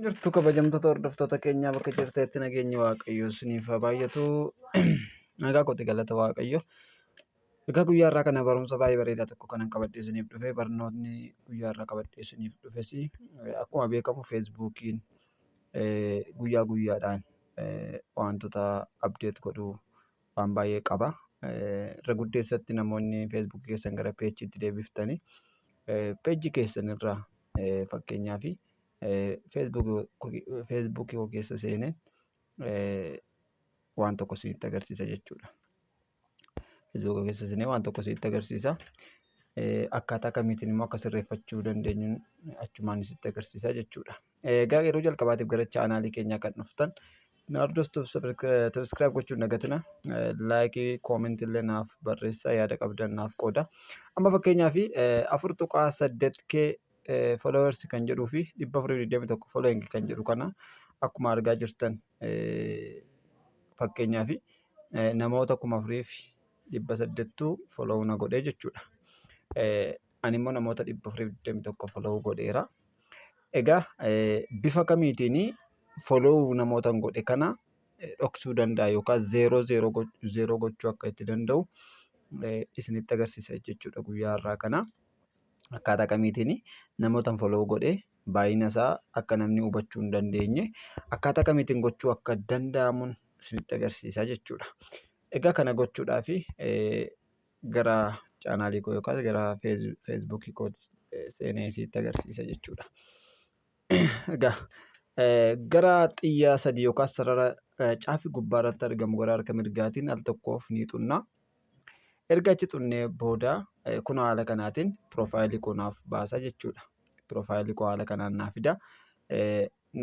Jirtu kabajamtoota hordoftoota keenyaa bakka jirteetti nageenyi waaqayyoo isiniif haa baay'atu. Nagaa kooti galata waaqayyo. Egaa guyyaa irraa kana barumsa baay'ee bareedaa tokko kanan qabadhee isiniif dhufe barnootni guyyaa irraa qabadhee isiniif dhufes akkuma beekamu feesbuukiin guyyaa guyyaadhaan wantoota abdeet godhu waan baay'ee qaba. Irra guddeessatti namoonni feesbuukii keessan gara peejiitti deebiftanii peejii keessan irraa fakkeenyaaf Facebook koo keessa seeneen waan tokko isinitti agarsiisa jechuudha. Facebook koo keessa seenee waan tokko isinitti agarsiisa. Akkaataa kamiitiin immoo akka sirreeffachuu dandeenyu achumaan isinitti agarsiisa jechuudha. Egaa yeroo jalqabaatiif gara chaanaalii keenyaa kan dhuftan Naardoos Subscribe gochuun dagatina. Laayikii, koomentii illee naaf barreessaa yaada qabdan naaf qooda. Amma fakkeenyaaf afur tuqaa saddeet kee followers kan jedhuu fi 421 following kan jedhu kana akkuma argaa jirtan fakkeenyaa fi namoota kuma afurii fi dhibba saddeettuu follow na godhee jechuudha. Ani immoo namoota dhibba afurii fi digdamii tokko follow godheera. Egaa bifa kamiitiin follow namoota godhe kana dhoksuu danda'a yookaan zeeroo zeeroo gochuu akka itti danda'u isinitti agarsiisa jechuudha guyyaa har'aa kana. akkaataa kamiitiin namootan follow godhe baay'ina isaa akka namni hubachuu hin dandeenye akkaataa kamiitiin gochuu akka danda'amun isinitti agarsiisaa jechuudha. Egaa kana gochuudhaaf gara chaanaalii koo yookaas gara feesbuukii koo seenee isinitti agarsiisa jechuudha. Egaa gara xiyyaa sadii yookaan sarara caafi gubbaa irratti argamu gara harka mirgaatiin al tokkoof ni xunna. Erga achi xunnee booda kun haala kanaatiin piroofaayilii koo naaf baasa jechuudha. Piroofaayilii koo haala kanaan naaf fida.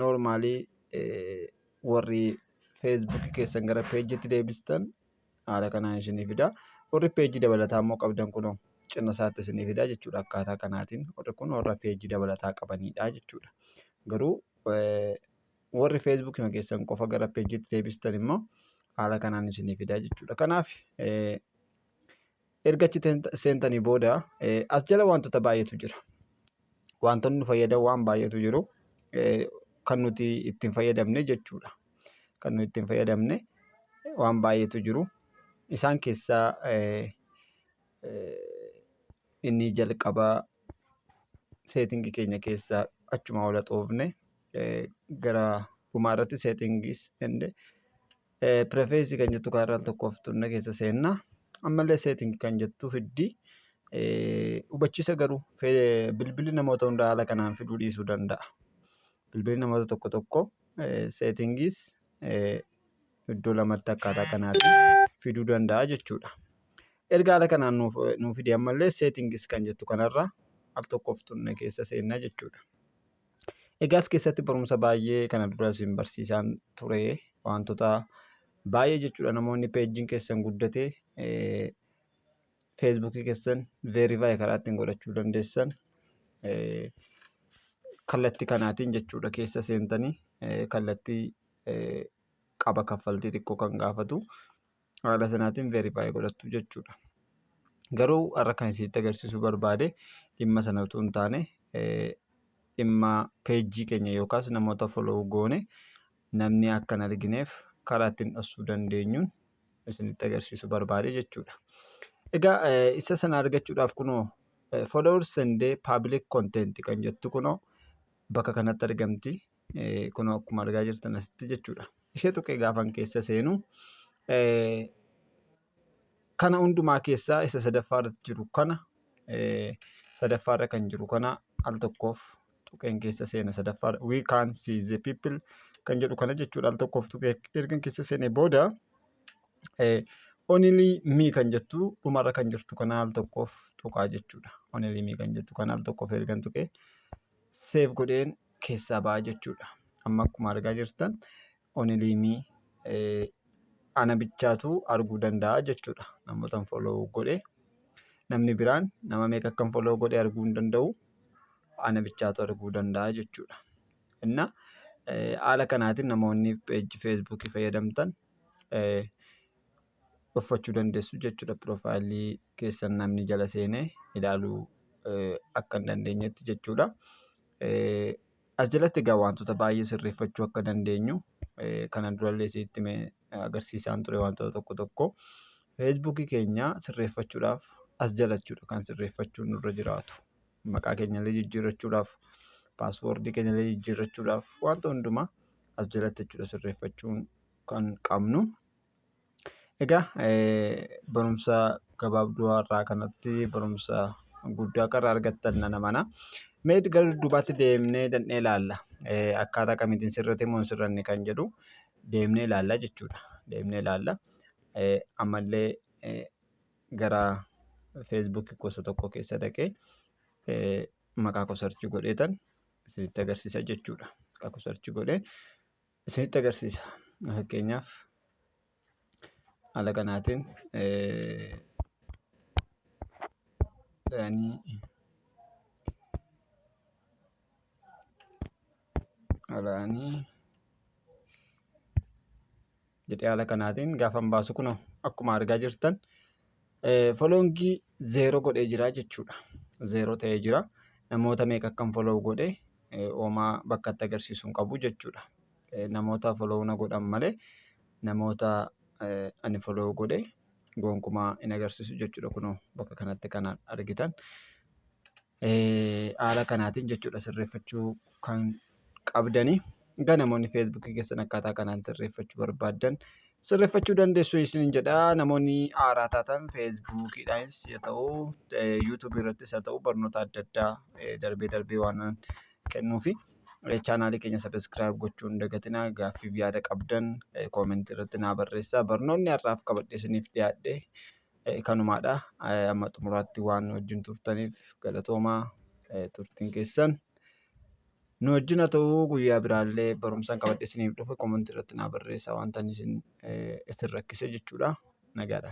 Noormaalii warri feesbuukii keessan gara peejiitti deebistan haala kanaan isinii fida. Warri peejii dabalataa immoo qabdan kunoo cina isaatti isinii fida jechuudha. Akkaataa kanaatiin warri kun warra peejii dabalataa qabanidha jechuudha. Garuu warri feesbuukii keessan qofa gara peejiitti deebistan immoo haala kanaan isinii fida jechuudha. Kanaaf Erga achi seentanii booda as jala wantoota baay'eetu jira. Wantoonni fayyadan waan baay'eetu jiru. Kan nuti ittiin fayyadamne jechuudha. Kan nuti ittiin fayyadamne waan baay'eetu jiru. Isaan keessaa inni jalqabaa seetingii keenya keessaa achuma ola xoofne gara dhumaa irratti seetingiis ende Preface kan jettu kaarraa al tokkoof tunna keessa seenna. Ammallee setting kan jettu fiddi. Hubachiisa garuu bilbilli namoota hundaa haala kanaan fiduu dhiisuu danda'a. Bilbilli namoota tokko tokko seettingiis iddoo lamatti akkaataa kanaatiin fiduu danda'a jechuudha. Erga haala kanaan nuuf fide ammallee seettingis kan jettu kanarraa al tokkoof tunna keessa seenna jechuudha. Egaa as keessatti barumsa baay'ee kana dura isin barsiisaan ture wantoota baay'ee jechuudha namoonni peejiin keessan guddate feesbuukii keessan veerifaayi karaa ittiin godhachuu dandeessan kallatti kanaatiin jechuudha keessa seentanii kallatti qaba kaffaltii xiqqoo kan gaafatu haala sanaatiin verify godhattu jechuudha. Garuu har'a kan isinitti agarsiisuu barbaade dhimma sana utuu hin taane dhimma peejii keenya yookaas namoota follow goone namni akka hin argineef karaa ittiin dhoksuu dandeenyuun isinitti agarsiisuu barbaade jechuudha. Egaa isa sana argachuudhaaf kunoo followers and public content kan jettu kunoo bakka kanatti argamti. kunoo akkuma argaa jirtan asitti jechuudha. Ishee tuqee gaafan keessa seenu kana hundumaa keessaa isa sadaffaa irratti jiru kana sadaffaa irra kan jiru kana al tokkoof tuqeen keessa seena sadaffaa we can see the people kan jedhu kana jechuudha al tokkoof tuqee ergan keessa seene booda only me kan jettu dhumarra kan jirtu kana al tokkoof tuqaa jechuudha only me kan jettu kana al tokkoof ergan tuqee. save godheen keessaa ba'a jechuudha. Amma akkuma argaa jirtan only me eh, ana bichaatu arguu danda'a jechuudha. Namootan follow godhe namni biraan nama meeqa akkan follow godhe arguu hin danda'u. Ana bichaatu arguu danda'a jechuudha. Inna eh, haala kanaatiin namoonni page Facebook fayyadamtan eh, dhoffachu dandessu jechudha profile kessan namni jala seene ilaalu akka hin dandeenyetti jechudha as jalatti egaa waantota baay'ee sirreeffachuu akka dandeenyu kanan durallee isitti hime agarsiisaan ture waantota tokko tokko feesbuukii keenya sirreeffachuudhaaf as jala jechuudha kan sirreeffachuun nurra jiraatu maqaa keenyallee jijjiirrachuudhaaf paaswoordii keenyallee jijjiirrachuudhaaf waanta hundumaa as jalatti jechuudha sirreeffachuun kan qabnu Egaa barumsa gabaabduu har'aa kanatti barumsa guddaa akka irraa argattan nan amana. Mee gara dudduubaatti deemnee dandhee ilaalla. Akkaataa kamiitiin sirrate moo hin sirranne kan jedhu deemnee ilaalla jechuudha. Deemnee ilaalla. Ammallee gara feesbuukii gosa tokko keessa dhaqee maqaa koo sarchi godheetan isinitti agarsiisa jechuudha. Maqaa koo sarchi godhee isinitti agarsiisa. Fakkeenyaaf haala kanaatiin alaanii jedhee haala kanaatiin gaafan baasu kun akkuma argaa jirtan Foloongii zeeroo godhee jira jechuudha. Zeeroo ta'ee jira. Namoota meeqa akkan foloow godhe oomaa bakka itti agarsiisu hin qabu jechuudha. Namoota foloow na godhan malee namoota ani foloow godhe gonkumaa hin agarsiisu jechuudha. Kunoo bakka kanatti kan argitan. haala kanaatiin jechuudha sirreeffachuu kan qabdani. Egaa namoonni feesbuukii keessan akkaataa kanaan sirreeffachuu barbaaddan sirreeffachuu dandeessu isiniin jedha. Namoonni haaraa taatan feesbuukiidhaanis haa ta'u yuutuubii irrattis haa ta'u barnoota adda addaa darbee darbee waan kennuufi chaanaalii keenya sabiskiraayib gochuu hin dagatinaa. Gaaffiif yaada qabdan koomentii irratti naa barreessaa. Barnoonni har'aaf qabadhe isiniif dhiyaadhe. kanumaadha. Amma xumuraatti waan wajjin turtaniif galatoomaa turtiin keessan. Nu wajjin haa ta'uu guyyaa biraallee barumsaan qabadhe isiniif dhufa komantii irratti naa barreessaa wanta isin rakkise jechuudha. Nagaadha.